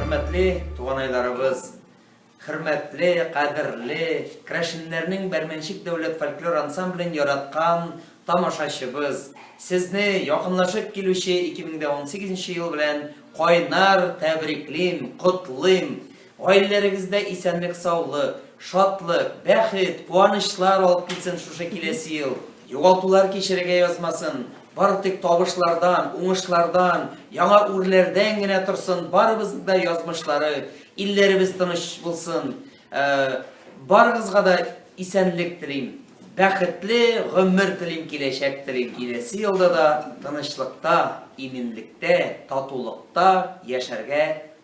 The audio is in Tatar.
Хөрмәтле туганайларыбыз, хөрмәтле, кадерле, Крашиннәрнең Бәрмәнчик дәүләт фольклор ансамблен яраткан тамашачыбыз, сезне якынлашып килүче 2018 ел белән кайнар тәбриклим, котлыйм. Гаиләләрегездә исәнлек-саулык, шатлык, бәхет, куанычлар алып килсен шушы киләсе ел! Югалтулар кичерергә язмасын, бары тик табышлардан, уңышлардан, яңа үрләрдән генә торсын, барыбызның да язмышлары, илләребез тыныч булсын. Барыгызга да исәнлек телим, бәхетле гомер телим, киләчәк телим. Киләсе елда да тынычлыкта, иминлектә, татулыкта яшәргә